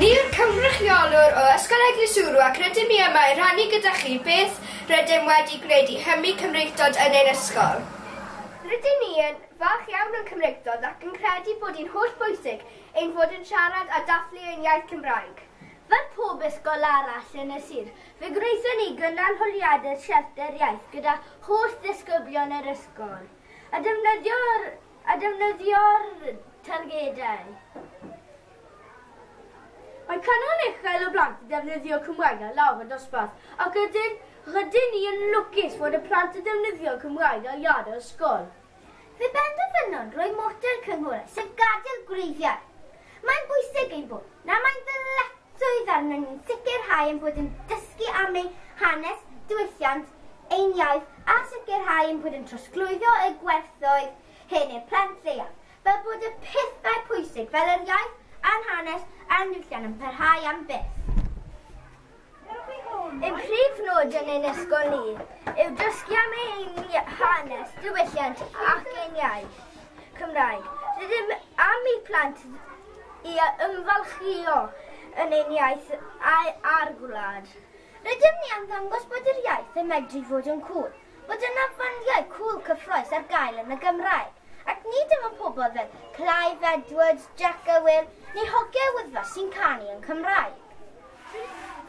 Ni yw'r cynrychiolwr o Ysgol Eglwys Ŵrw ac rydym ni yma i rannu gyda chi beth rydym wedi gwneud i hybu Cymreictod yn ein ysgol. Rydyn ni yn falch iawn o'n Cymreictod ac yn credu bod hi'n holl bwysig ein fod yn siarad a dathlu ein iaith Cymraeg. Fel pob ysgol arall yn y sir, fe gwnaethon ni gynnal holiadur siarter iaith gyda holl ddisgyblion yr ysgol, a defnyddio'r a defnyddio'r targedau. Mae canran uchel o blant yn defnyddio Cymraeg ar lawr y dosbarth ac ydyn, rydyn ni yn lwcus fod y plant yn defnyddio Cymraeg ar iâd yr ysgol. Fe benderfynon roi model cynghorau, sef gadael gwreiddiau. Mae'n bwysig ein bod na mae'n ddyletswydd arnon ni'n sicrhau ein bod yn dysgu am ein hanes, diwylliant, ein iaith a sicrhau ein bod yn trosglwyddo y gwerthoedd hyn i'r plant leiaf, fel bod y pethau pwysig fel yr iaith a'r hanes a'r niwylliant yn parhau am byth. Ein prif nod yn ein ysgol ni yw dysgu am ein hanes, diwylliant ac ein iaith, Cymraeg. Rydym am i plant i ymfalchio yn ein iaith a'r gwlad. Rydym ni am ddangos bod yr iaith yn medru fod yn cŵl. bod yna fandiau cŵl cyffrous ar gael yn y Gymraeg, ac nid dim ond pobl fel Clive Edwards, Jac a Wil, neu hogiau Wyddfa sy'n canu yn Cymraeg.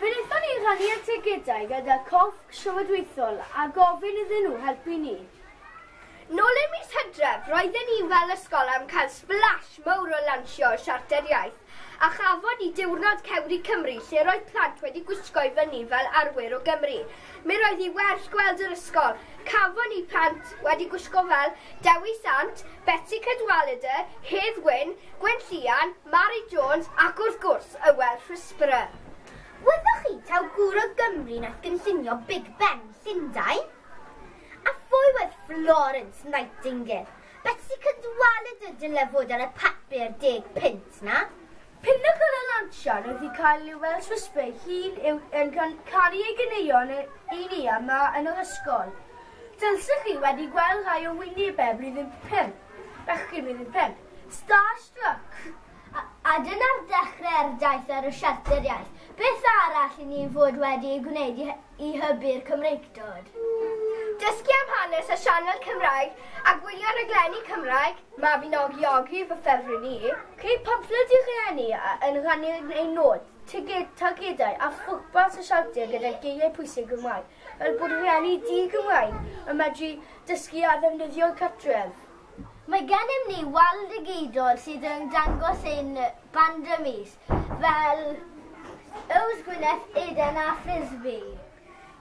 Fe wnaethon ni rannu'r ticedau gyda Corff Llywodraethol a gofyn iddyn nhw helpu ni. Nôl ym mis Hydref, roedden ni fel ysgol am cael splash mawr o lansio y Siarter Iaith, A chafon ni diwrnod Cewri Cymru lle roedd plant wedi gwisgo i fyny fel arwyr o Gymru. Mi roedd hi werth gweld yr ysgol. Cafon ni plant wedi gwisgo fel Dewi Sant, Betsi Cadwaladr, Hedd Wyn, Gwyn Llian, Mari Jones ac wrth gwrs Ywel Rhysbrau. Wyddoch chi taw gŵr o Gymru nath gynllunio Big Ben Llundain? A phwy oedd Florence Nightingale? Betsi Cadwaladr dyle fod ar y papur deg punt 'na. Pinacl y lansiad oedd i cael ei weld trwy sbei hŷn yw yn canu ei ganeuon yn ei ni yma yn yr ysgol. Dylsech chi wedi gweld rhai o wynebau blwyddyn pump, bechgyn blwyddyn pump, starstruck! a dyna'r dechrau'r daith ar y siarter iaith. Beth arall i ni fod wedi ei gwneud i hybu'r Cymreictod? Dysgu am hanes a sianel Cymraeg a gwylio rhaglenni Cymraeg, Mabinogiogi fy ffefryn i. Creu pamffled i rhieni yn rhannu eu nod, targedau a phwrpas y siarter gyda geiriau pwysig Gymraeg fel bod rhieni di-Gymraeg yn medru dysgu a ddefnyddio'r cartref. Mae gennym ni wal digidol sydd yn dangos ein band y mis, fel Yws Gwynedd, Eden a Frisbee.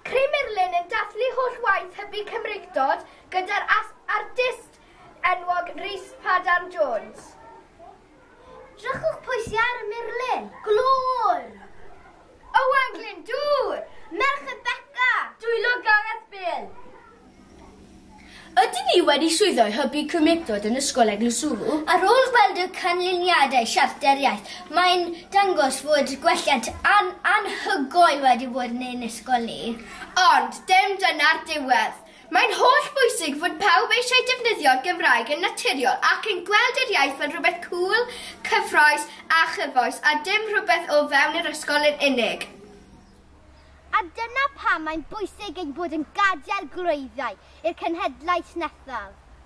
Cri Murlun yn dathlu holl waith hybu Cymreictod gyda'r artist enwog Rhys Padarn Jones. Drychwch pwy sy ar y murlun! Glöwr! Owain Glyndŵr! Merched Beca! Dwylo Gareth Bill! Ydyn ni wedi llwyddo i hybu cymhlethdod yn Ysgol Eglwyswrw? Ar ôl gweld y canlyniadau Siarter Iaith, mae'n dangos fod gwelliant anhygoel wedi bod yn ein ysgol ni. Ond, dim dyna'r diwedd. Mae'n holl bwysig fod pawb eisiau defnyddio'r Gymraeg yn naturiol ac yn gweld yr iaith fel rhywbeth cŵl, cyffrous a chyfoes a dim rhywbeth o fewn yr ysgol yn unig. A dyna pam mae'n bwysig ein bod yn gadael gwreiddiau i'r cenhedlaeth nesaf.